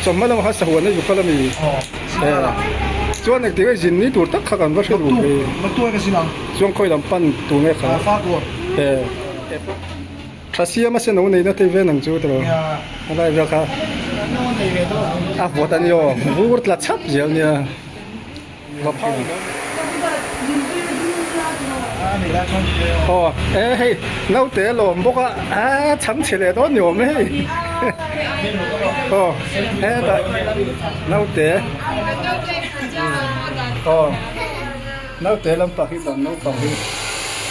Chawhma lama sahuan na zuk kal a ni. Chuan eng tinge zin ni tur tak kha kan va hre duh hi. Chuan khawi lam pan tur nge kha. Tha siama se no neina tei ven ang chu tilo. Helai vel kha a vuat a ni aw. Vur tla chap zel nia. Hma phau ni lo mai. Aw e hei naute a lawm bawk a aa chham chhe leh dawn ni awm e hei aw hetah naute aw naute lam pah hi bang naupang hi.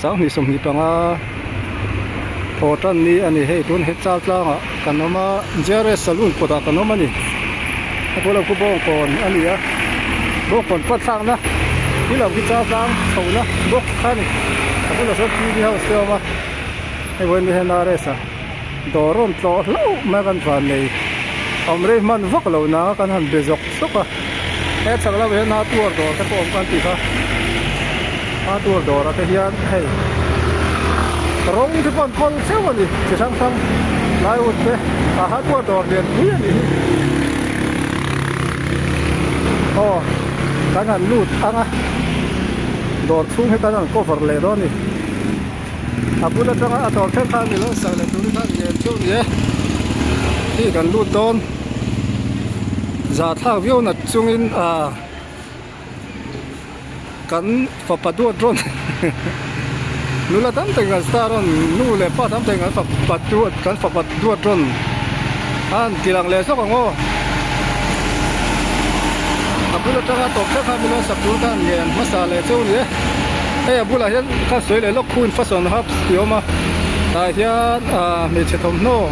Sanghnih sawmhnih panga thaw tan ni a ni hei tun he chal tlang ah kan awm a GRS salon kawt ah kan awm a ni a bulah khu bawng kawn a ni a bawng kawn pat thlak na hi lo khi chal tlang chho na box kha a ni a bulah sawn TV house te a awm a hei vawiin mi hi NRS a. dawr awm tlawh hlauh mai kan van nei awm rei hman vak lo na kan han be zawk zawk a he chak lamah hian hardware dawr te pawh awm kan ti kha hardware dawr ah te hian hei rawng te pawh an kawl cheuh a ni chi hrang hrang plywood te a hardware dawr lian pui a ni hi aw kan han lut ang a dawr chhung hi kan han cover leh dawn a ni. a bul atanga a tawr ṭhel khan milo sak leh turin khan ngel ṭeuh nia hei kan lut dawn za thlak viau nat chungin ah kan fapa duat rawn nula tam takin kan star rawn nu leh pa tam takin kan fapa duat kan fapa duat rawn khan kilang leh zawk ang aw a bul atanga tawrh ṭhel khan milo sak tur khan ngel hmasa leh ṭeuh nia. hei a bulah hian kha sawi leh lawk hun fashion hubs tih a awm a tah hian ahh hmeichhe thawmhnaw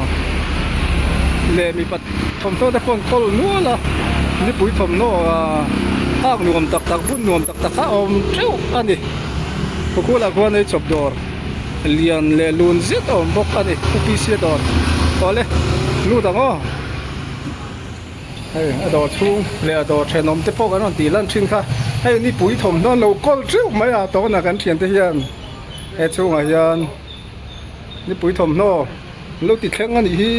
leh mipa thawmhnaw te pawh an kawl nual a mipui thawmhnaw ahh hak nuam tak tak bun nuam tak tak kha a awm teuh a ni khukhulah khuan eichawp dawr lian leh lun zet a awm bawk a ni khupisia dawr awle lut ang aw. Hei a dawr chhung leh a dawr thenawm te pawh kan rawn tih lan thin kha hei ni pui thawm dawn lo kawl teuh mai a tawn a kan thian te hian he chhung ah hian ni pui thawmhnaw an lo ti thleng a nih hi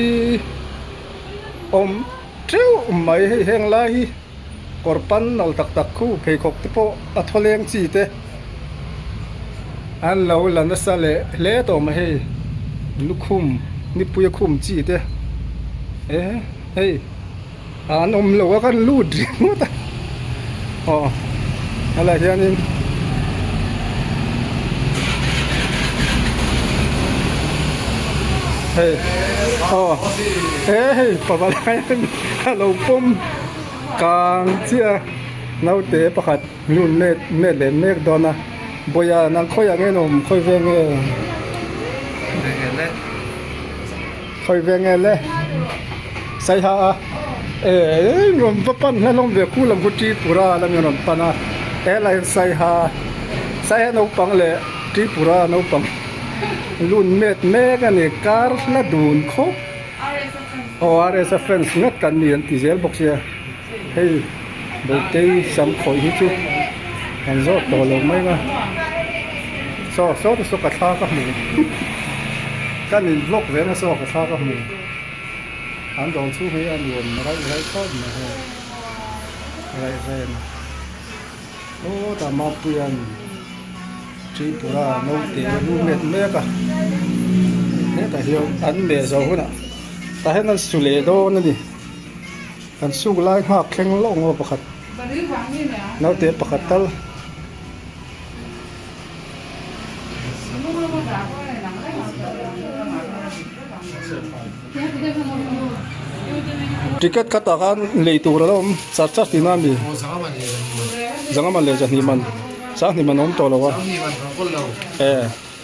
awm teuh mai hei heng lai hi kawr pan nal tak tak khu pheikhawk te pawh a thawleng chi te an lo la nasa leh hle tawh mai hei lukhum ni pui a khum chi te e-- Hei ah an awm lo a kan lut ringawt a aw a lah hianin hei aw he hei pava laiin a lo pawm kang chiah a naute pakhat. Nun met met len mek dawn a. Bawia nang khawi ang em awm khawi ve nge. Khawi ve nge le. Saiha a ee rawn va pan hian hlawm ve khul ang khaw Tripura la min rawn pan a ela hian Saiha Saiha naupang leh Tripura naupang lun met mek a ni kar hla dun khawp aww RSF fans ngat kan ni an ti zel bawk sia. Hei bawihkei sam khawih hi chu kan zawt tawh lo mai nga sawk sawk te chu ka thla ka hmu kan in vlog ve nasa ka thla ka hmu an dawr chhung hi a nuam raih raih tawt mai ho raihreng sawta mapuia'n tripura naute lu met mek a hetah hian an meh zo hunah tah hian an su leh dawn a ni. Kan suk lai nghak thleng loh ngaw pakhat naute pakhat tal Ticket khat ah khan lei tur ala awm char char tih na ani Zangaman leh Zahniman Sangniman a awm tawh lo a eh.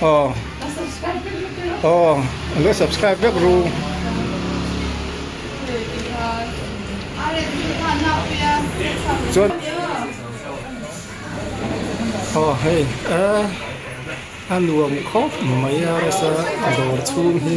Aww aww alo subscribe vek ru. Chuan aww hei a nuam khawp mai a rasa dawr chhung hi.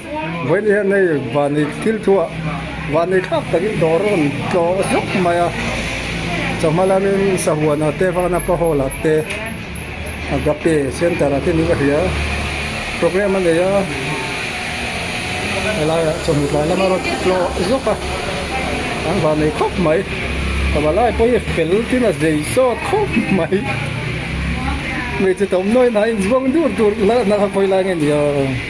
Vawiin hian hei vani thil thu ah vani thlak tak in dawr a rawn tlawh zawk mai a, chawhma lam in sahuan ah te vana ka hall ah te agape center ah te nih ka hria program a nei a, he lai ah chawhnu tlai lam a rawn tlawh zawk a, an van nei khawp mai chawhma lai pawh hi fel tin a zei sawt khawp mai hmeichhe tawmhnawi na in zbuang dur tur la na kha khawilai nge ni aww.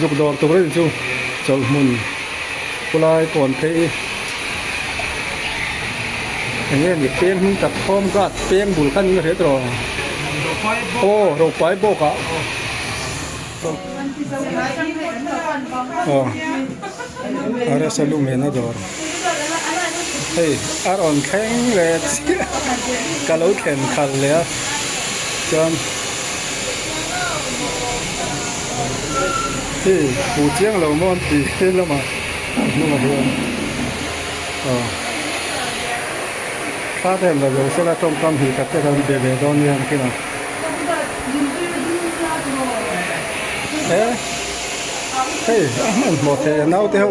Zuk dawr tur ril chu chawlhmun khulai kawn phei i eng nge ni peng hming tak home guard peng bul khan in a hriat rawh ang aw ropai bawk ah aw RSL luhmehna dawr. hei a rawn thleng leh chiah ka lo thlen khal leh a chuan hei pu chiang lo mawn ti hlil lam ah a hnungah hian aw thla te an lo ve sela tawngkam hnih tak te an be leh dawn nia ang kinah eh hei a hman hmawh theih e naute ho.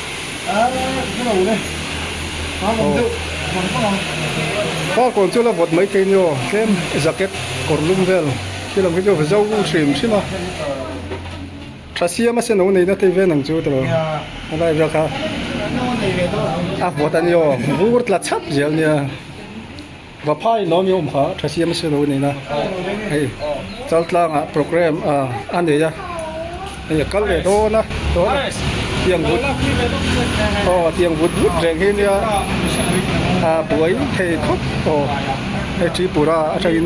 Ka kawr chu la vawt mai thei niaw tlem jacket kawrlum vel khi lam hi chu zo hrim hrim a tha siam a seno neina thei vel ang chu tawh helai vel kha a vawt aniawm vur tla chap zel nia. Vaphai lawm i awm kha a tha siam a si lo nen a hei chal tlangah programme a nei a hei a kal leh dawn a tiang vut aw tiang vut vut reng hi nia a buai thei khawp aw hei tripura atangin.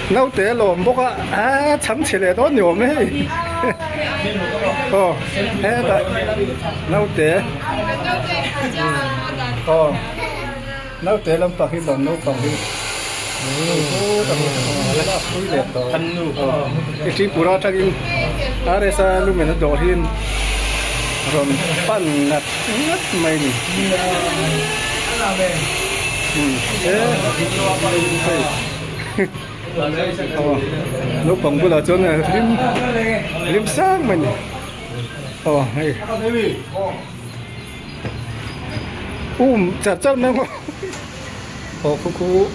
Naute a lawm bawk a, aa chham chhe leh dawn ni awm e hei, aw hetah naute aw naute lam pah hi bang naupang hi i tripura atangin rsa lu mehna dawr hi rawn pan nghat nghat mai ni hei. naupang bulah chuan hlim hlim sang mai ni aw hei um char char mai maw aw khukhu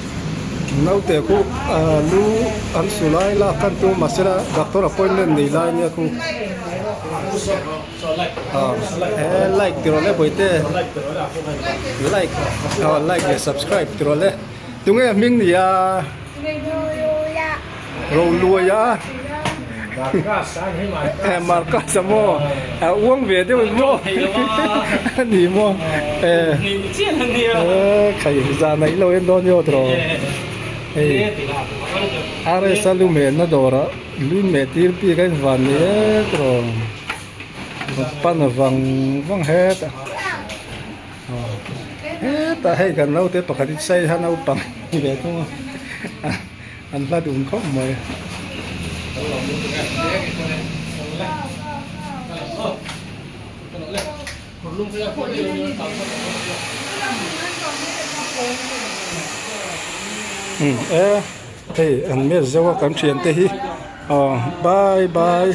naute khu ah lu an su lai lak kan chu mahse a doctor appointment nei lai nia khu aw he like ti rawh le bawihte like aw like leh subscribe ti rawh le. Tunge a hming nia? Rolua. Roluaia. Marcus a ni mai. Eh Marcus a maw? A uang ve deuh em maw? A ni maw? Eh. Ni chian a nia. Eh khai za neih lo em dawn nia draw. Hei. RS a lu menna dawrah lui meh tir bik a invan ni mek draw. Pan a vang vang het a. hetah hei kan naute pakhat hi chai ha naupang ni leh thung a an hla dun khawp mai a hei an match zauha kan thiante hi aw bye bye .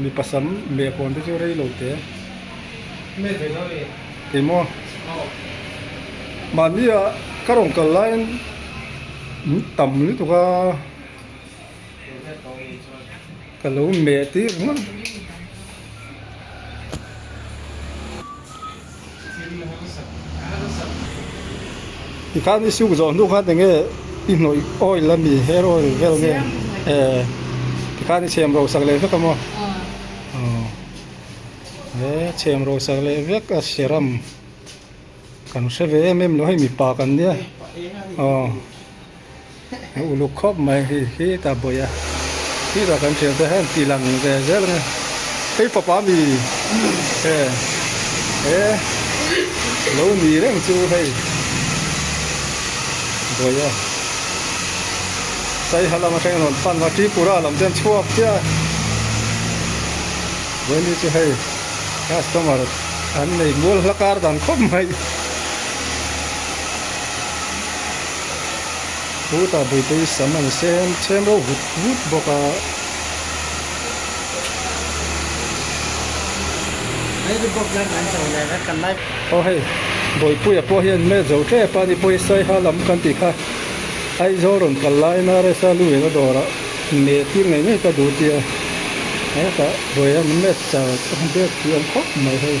Mi pasam leh pawn te chu rei lo te kei maw mahnia ka rawn kal laiin in tam lutuk a ka lo meh tir ngawt. I khan i siuk zawh hnu khan enge i hnawih oil a mi hair oil vel nge ee ti khan i chhem ro sak leh vek a maw aw he chhem ro sak leh vek a serum kan hre ve em em lo hei mipa kan nia aw. Ka uluk khawp mai hi hi ta bawih a khi ta kan thiam te hian tilang ve zel nge hei fapa mi he he lo ni reng chu hei bawih a saiha lam atheng rawn pan va tripura lam ten chhuak chiah a bawih ni chu hei customer an nei mual hlakar dan khawp mai. chu tah bul te hi sam an sem sem reuh vut vut bawk a aw hei bawipuia pawh hian hmet zo tep a ni pawh hi saiha lam kan ti kha Aizawl rawn kal lai a nrs a luhna dawrah meh tir ngei ngei ka duh tia hetah bawih hian hmet char bek tih awm khawp mai hei.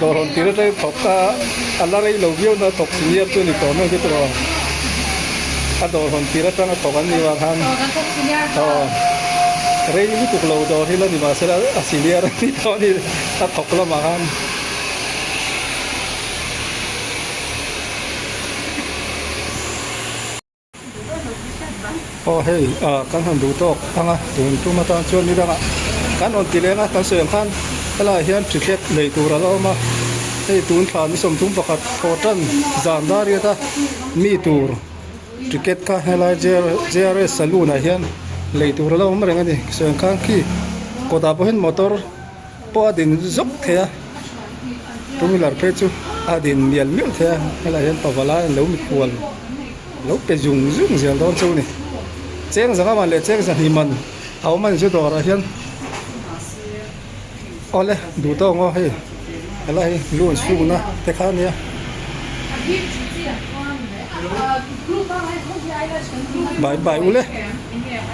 dawr rawn tir atlai thawk a a la rei lo viau na thawk senior chu a ni tawh mek hi chu lo a dawr rawn tir atang a thawk an ni vang khan aw rei lutuk lo dawr hi la ni mahse la a senior a ni tawh a ni a thawk lamah khan Aw hei ah kan han duh tawk ang a, tun tum atan chuan ni dangah kan rawn ti leng a, kan sawi ang khan helaiah hian ṭhi tlek nei tur a lo awm a, hei tun thla ni sawm dum pakhat thaw ṭan zan dar riat a mi tur ṭicket kha helai JRS saloon ah hian lei tur a lo awm reng a ni, sawi ang khan khi kawtah pawhin motor-- pawh a din zawk thei a two wheeler phei chu a din mial mial thei a helaiah hian pava lai an lo mit hual lo pe zung zung zel dawn chu a ni cheng zang aman leh cheng zahnih man a awm a ni chu dawr ah hian awle duh tawng aw hei a la hi lunch hung na te kha a ni a bai bai ule.